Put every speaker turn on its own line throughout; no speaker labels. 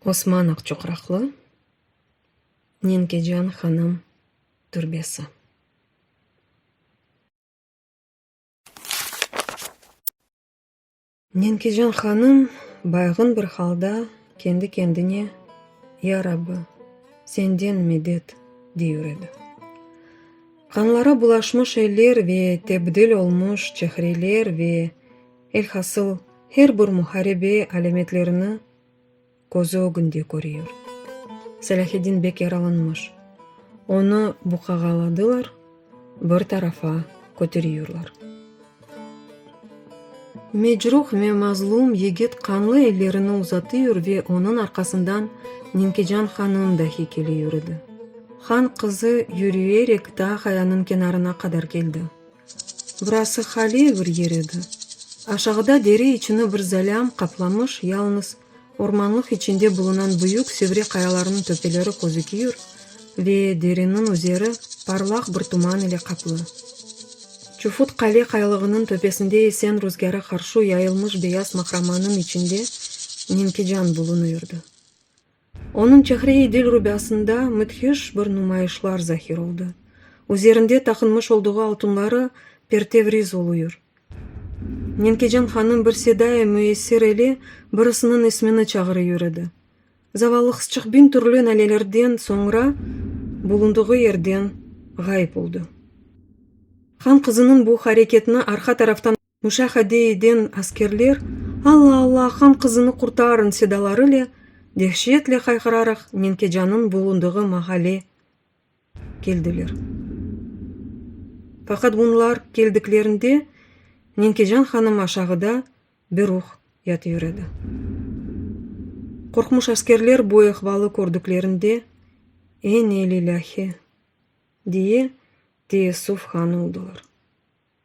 Osman Aqçuqraqlı, Nenkecan hanım türbesi. Nenkecan hanım baygın bir halda kendi-kendine, Ya Rabbi, Senden medet! dey ür edi. Qanlara bulaşmış eller ve tebdil olmuş çehreler ve. Elhasıl, her bir muharebe alâmetlerini közü ögünde körüyor. Selâheddin bek yaralanmış. Onı buqağaladılar, bir tarafa köteriyorlar. Mecruh ve mazlum yigit qanlı ellerini uzatıyor ve onıñ arqasından Ninkecan hanım dahi kele yürüdi. Han qızı yürüyerek daa qayanıñ kenarına qadar keldi. Burası haliye bir yer edi. Aşağıda dere içini bir zalâm qaplamış, yalnız ormanlıq içinde bulunan büyük Sevre qayalarınıñ töpeleri közüküyür ve dereniñ üzeri parlaq bir tuman ile qaplı. Çufut qale qaylığınıñ töpesinde esen ruzgâra qarşı yayılmış beyaz mahramanıñ içinde Nenkican bulunıyrdı. Onıñ Çehre-i dil rubâsında müdhiş bir numayışlar zahir oldı. Üzerinde taqınmış olduğu altınları pertevriz oluyır. Nenkecan hanım bir sedai müessir ile birisiniñ ismini çağırıyır edi. Zavallı qızçıq biñ türlü nalelerden soñra bulundığı yerden ğayıp oldı. Han qızınıñ bu hareketini arqa taraftan. Müşahede eden askerler, Alla, Alla, han qızını qurtarıñ! sedalarıyle dehşetle hayqıraraq Menkecanıñ bulundığı mahale keldiler. Faqat bunlar keldiklerinde Menkecan hanım aşağıda beruh yatıyor edi. Qorqmuş askerler bu ehvalı kördüklerinde, Enelilâhi! diye teessuf han oldılar.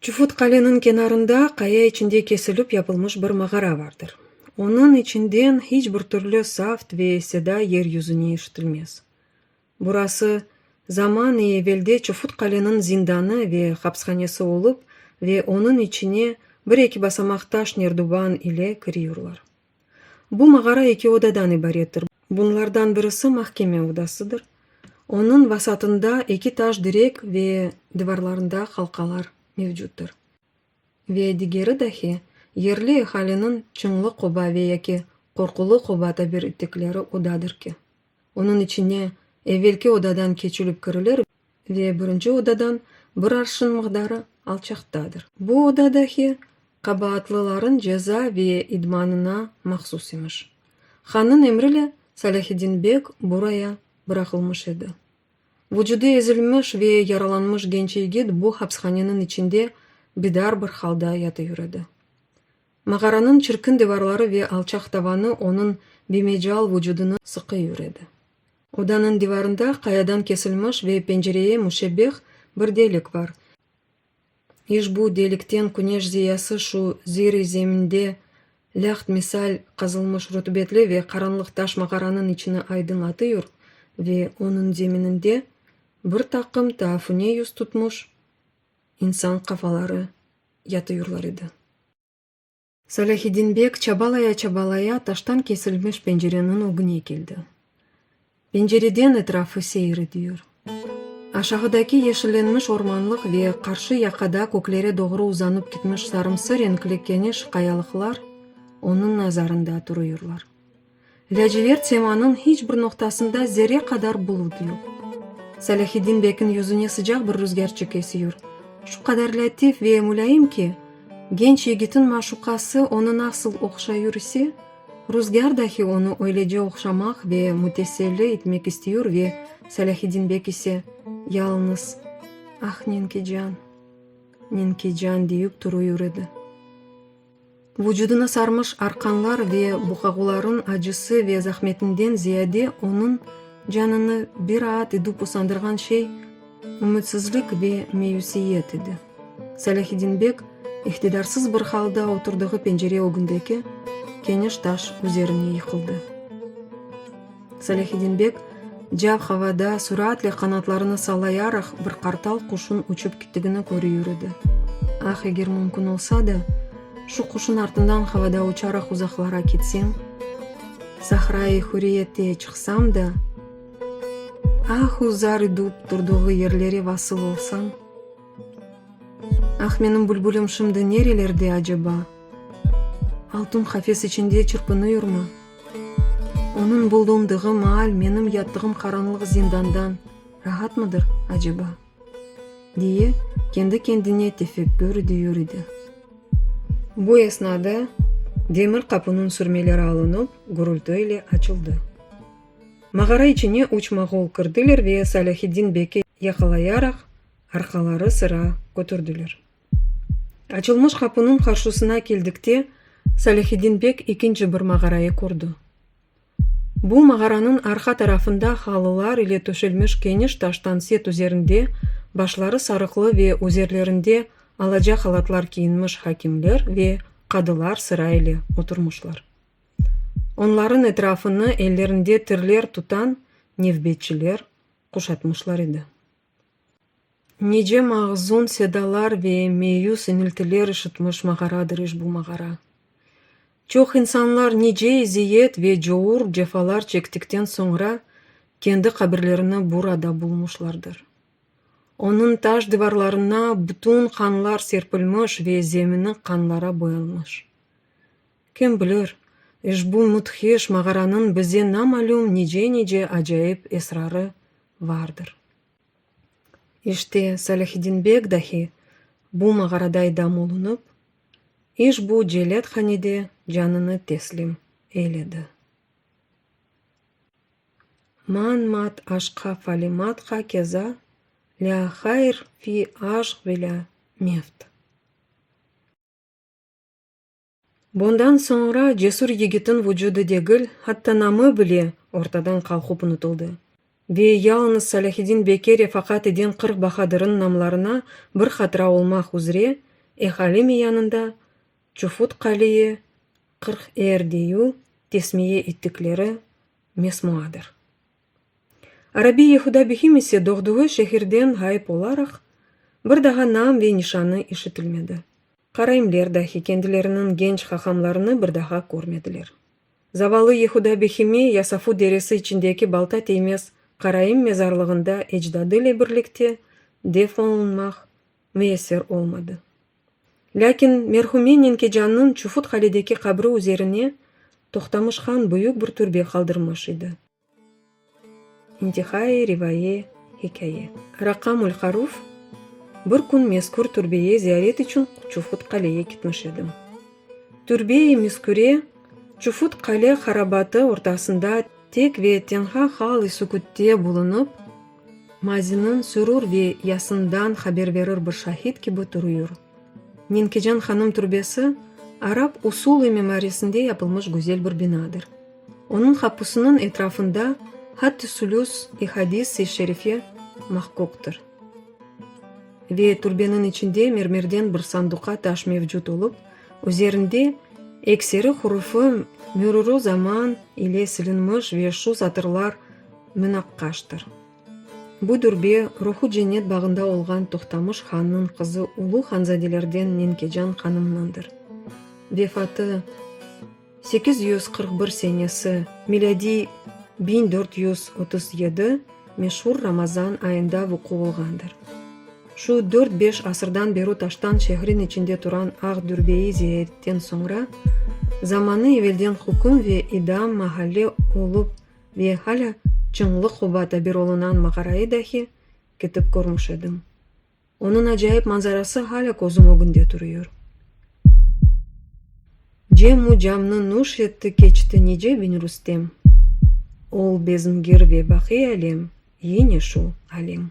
Çufut qaleniñ kenarında qaya içinde kesilip yapılmış bir mağara vardır. Onıñ içinden hiç bir türlü savt ve seda yer yüzüne eşitilmez. Burası, zaman i evelde Çufut qaleniñ zindanı ve hapshanesi olıp ve onıñ içine bir-eki basamaq taş nerduban ile kiriyorlar. Bu mağara eki odadan ibarettir. Bunlardan birisi mahkeme odasıdır. Onıñ vasatında eki taş direk ve divarlarında halqalar mevcuttur. Ve digeri dahi, yerli ehaliniñ çıñlı qoba ve yaki qorqulı qoba tabir ettikleri odadır ki, onıñ içine evelki odadan keçilip kirilir Ve birinci odadan bir arşın mıqdarı alçaqtadır. Bu oda dahi qabaatlıların ceza ve idmanına mahsus imiş. Hannıñ emrile Salâhiddin beg buraya bıraqılmış edi. Vucudı ezilmiş ve yaralanmış genç yigit bu hapishaneniñ içinde bidar bir halda yatıyor edi. Mağaranıñ çirkin divarları ve alçaq tavanı onıñ bimecal vucudını sıqıyor edi. Odanıñ divarında qayadan kesilmiş ve pencereye müşebbeh bir delik var. İşbu delikten küneş ziyası şu zir-i zeminde lâht misal qazılmış rutubetli ve qaranlıq taş mağaranıñ içini aydın atıyor ve onıñ zemininde bir taqım taafune yüz tutmuş insan qafaları yatıyorlar edi. Salâhiddin beg çabalaya-çabalaya taştan kesilmiş pencereniñ ögüne keldi. Pencereden etrafı seyir ediyor. Aşağıdaki yeşillenmiş ormanlıq ve qarşı yaqada köklere doğru uzanıp gitmiş sarımsı renkli keniş qayalıqlar onıñ nazarında turuyorlar. Lâcivert semanıñ hiç bir noqtasında zerre qadar bulut yoq. Salâhiddin bekniñ yüzüne sıcaq bir ruzgârçık esiyor, şu qadar lâtif ve mulâyim ki, genç yigitiñ maşuqası onı nasıl oqşayur ise, ruzgâr dahi onı öylece oqşamaq ve müteselli itmek istiyor ve Salâhiddin bek ise yalıñız Ah, Ninkican, Ninkican deyüp turuyur edi. Vucudına sarmış arqanlar ve buqaguların acısı ve zahmetinden ziyade onıñ canını biraat edüp usandırğan şey ümütsizlik ve meyusiyet edi. Salâhiddin beg iqtidarsız bir halda oturdığı pencere ögündeki keniş taş üzerine yıqıldı. Salâhiddin beg, cav havada suraatli qanatlarını sallayaraq, bir qartal quşun uçup kittigini köri yüridi. Ah, eger mümkün olsa da, şu quşun artından havada uçaraq uzaqlara kitsem, sahra-i hüriyette çıqsam da, ahu zar idüp turduğı yerlere vasıl olsam! Ah, menim bülbülim şimdi nerelerde aceba? Altun qafes içinde çırpınıyormı? Onıñ bulundığı maal menim yattığım qaranlıq zindandan rahatmıdır aceba? diye, kendi-kendine tefekkür ediyor idi. Bu esnada demir qapınıñ sürmeleri alınıp, gürültü ile açıldı. Mağara içine üç moğol kirdiler ve Salâhiddin beki yaqalayaraq, Arqaları sıra kötürdiler. Açılmış qapınıñ qarşısına keldikte, Salâhiddin bek ikinci bir mağarayı kördi. Bu mağaranıñ arqa tarafında halılar ile töşelmiş keniş taştan set üzerinde başları sarıqlı ve üzerlerinde alaca halatlar kiyinmiş hakimler ve qadılar sıra ile oturmışlar. Onlarıñ etrafını ellerinde tirler tutan nevbetçiler quşatmışlar edi. Nice mahzun sedalar ve meyüs iniltiler işitmiş mağaradır iş bu mağara. Çoq insanlar nice eziyet ve cour cefalar çektikten soñra kendi qabirlerini burada bulmuşlardır. Onıñ taş divarlarına bütün qanlar serpilmiş ve zemini qanlara boyalmış. Kim bilir, işbu müdhiş mağaranıñ bize namalüm nice-nice acayip esrarı vardır. İşte, Salâhiddin beg dahi bu mağaraday dam olunıp, işbu celâthanede canını teslim eyledi. Man mat aşqa falimat ha keza, lâ hayr fi aşq velâ mevt. Bundan soñra cesür yigitin vucudı degil, hatta namı bile ortadan qalqıp unutıldı. Ve yalınız Salâhiddin beke refakat eden qırq bahadırın namlarına bir hatıra olmaq üzre ehalimi yanında Çufut Qaliye, Qırq er deyu, tesmiye ettikleri mesmuadır. Arabi Yehuda Bihim ise doğduğı şehirden ğayıp olaraq, bir daha nam ve nişanı işitilmedi. Karaimler dahi kendileriniñ genç hahamlarını bir daha körmediler. Zavallı Yehuda Bihimi Yasafu deresi içindeki balta teymez Karaim mezarlığında ecdadı ile birlikte def olunmaq Müesser olmadı. Lâkin merhume Nenkecanniñ çufut qaledeki qabri üzerine Toqtamış han büyük bir türbe qaldırmış edi. İntihai rivaye hikâye. Raqamul Haruf Bir kün mezkür türbeye ziyaret içün Çufut qaleye gitmiş edim. Türbe-i mezküre Çufut qale harabatı ortasında tek ve tenha hal-i sükütte bulunıp, Maziniñ sürür ve yasından haber berir bir şahid kibi turuyur. Nenkecan hanım türbesi, arap usulı mimarisinde yapılmış güzel bir binadır. Onıñ qapusınıñ etrafında hatt-i sülüs, i hadis-i şerife mahquqtır. Ve türbeniñ içinde mermerden bir sanduqa taş mevcut olıp, üzerinde ekseri hurufi mürürü zaman ile silinmiş ve şu satırlar, münaqqaştır. Bu dürbe ruhu cennet bağında olğan Tohtamış hannıñ qızı ulu hanzadelerden Nenkecan hanımnındır. Vefatı, sekiz yüz qırq bir senesi, milâdiy, biñ dört yüz otuz yedi, meşur Ramazan ayında vuqu olğandır. Şu dört-beş asırdan beri taştan şehrin içinde turan aq dürbe-i ziyaetten soñra, zamanı evelden hüküm ve idam mahalle olup Ve halâ Çıñlı qoba tabir olunan mağarayı dahi ketip körmüş edim. Onıñ acayip manzarası halâ közüm ögünde turıyor. Cem-u camnı nuş etti keçti nice biñ Rustem. Ol bezmgir ve baqi alem yine şu alem.